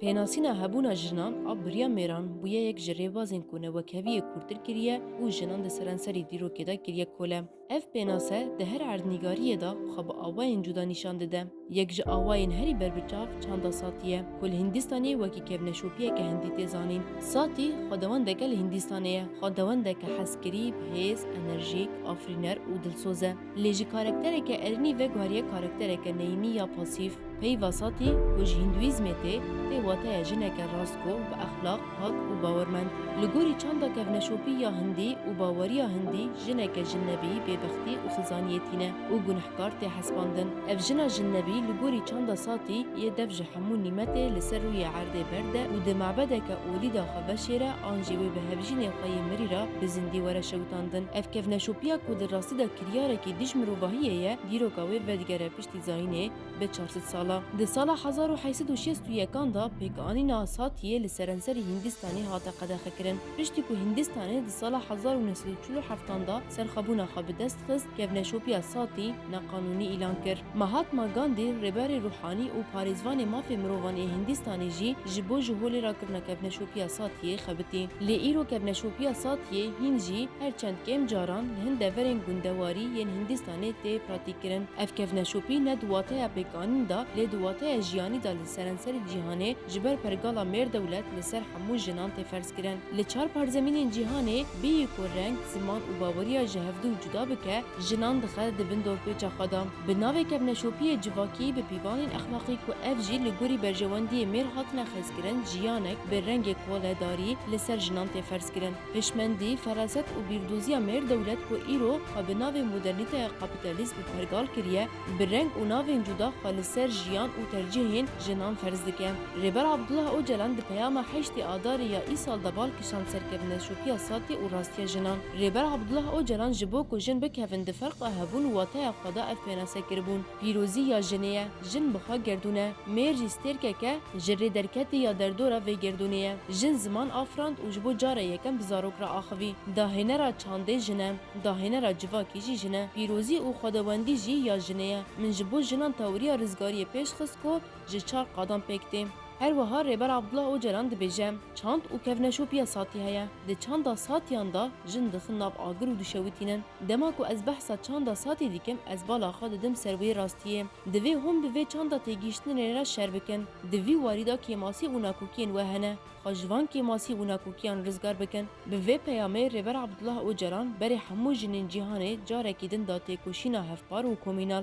Pênasîna hebûna jinan a biriya mêran bûye yek ji rêbazên ku newekeviyê kûrtir kiriye û jinan di serenserî dîrokê de kiriye kole. Ev pênase di her erdnîgariyê de xwe bi awayên cuda nîşan dide. Yek ji awayên herî ber bi çav çanda Satî ye ku li Hîndistanê wekî kevneşopiyeke hindî tê zanîn. Satî xwedewendeke li Hîndistanê ye, xwedewendeke hezkirî, bihêz, enerjîk, afirîner û dilsoz e. Lê ji karaktereke erênî veguheriye karaktereke neyînî ya pasîf. Peyva Satî ku ji hîndûîzmê tê, tê wateya jineke rastgo, bi exlaq, Hak û bawermend, li gorî çanda kevneşopî ya hindî û baweriya hindî jineke jinnebî bêbextî û xizaniyê tîne û gunehkar tê hesbandin. Ev jina jinnebî li gorî çanda Sati yê dev ji hemû nîmetê li ser rûyê erdê berd e û di mebedeke olî de xwe veşêre an jî wê bi hevjînê xwe yê mirî re bi zindî were şewitandin. Ev kevneşopiya ku di rastî de kiryarekî dij mirovahiyê ye dîroka wê vedigere piştî zayînê, Bi çar sed sala, di sala hezar û heysed û şêst û yekan de pêkanîna Satiye li serenserê Hîndistanê hate qedexekirin. Piştî ku Hîndistanê di sala hezar û neh sed û çil û heftan de serxwebûna xwe bi dest xist, kevneşopiya Sati neqanûnî îlan kir. Mahatma Gandî, rêberê rûhanî û parêzvanê mafê mirovan ê Hîndistanê jî ji bo ji holê re kirina kevneşopiya Satiyê xebitî. Lê îro kevneşopiya Satiyê hîn jî her çend kêm caran li hin deverên gundewarî yên Hîndîstanê Kurdistanê tê pratîkkirin. Ev kevneşopî ne di wateya pêkanîn de lê di wateya jiyanî de li serenserê cîhanê ji ber pergala mêrdewlet li ser hemû jinan tê ferzkirin. Li çar parzemînên cîhanê bêyî ku reng, ziman û baweriya ji hevdu cuda bike jinan dixe di bin dorpêça xwe de. Bi navê kevneşopiyê civakî bi pîvanên exlaqî ku ev jî li gorî berjewendiyê mêr hatine xezkirin jiyanek bi rengê kole darî li ser jinan tê ferzkirin. Hişmendî, feraset û bîrdoziya mêr dewlet ku îro xwe bi navê modernîteya kapîtalîzm pergal kiriye, bi reng û navên cuda xwe li ser jiyan û tercîhên jinan ferz dike. Rêber Abdullah Ocalan di peyama heştê Adarê ya îsal de bal kişand ser kevneşopiya Satê û rastiya jinan. Rêber Abdullah Ocalan ji bo ku jin bikevin di ferqa hebûn û wateya xwe de ev pênase kiribûn, Pîrozî ya jinê ye. Jin bi xwe gerdûn e. Mêr jî stêrkek e, ji rê derketî ya derdora vê gerdûnê ye. Jin ziman afirand û ji bo cara yekem bi zarok re axivî. Dahênera çandê jin e. Dahênera civakî jî jin e. Pîrozî û xwedewendî jî ya jinê ye. Min ji bo jinan tewriya rizgariyê pêş xist ku ji çar qadan pêk tê. Her wiha Rêber Abdullah Ocalan dibêje, Çand û kevneşopiya satî heye. Di çanda satiyan de jin dixin nav agir û dişewitînin. Dema ku ez behsa çanda satî dikim ez bala xwe didim ser wê rastiyê. Divê hûn bi vê çanda têgihiştinê re şer bikin. Di vî warî de kêmasî û nakokiyên we hene. Xwe ji van kêmasî û nakokiyan rizgar bikin. Bi vê peyamê Rêber Abdullah Ocalan berê hemû jinên cîhanê carekî din da têkoşîna hevpar û komînal.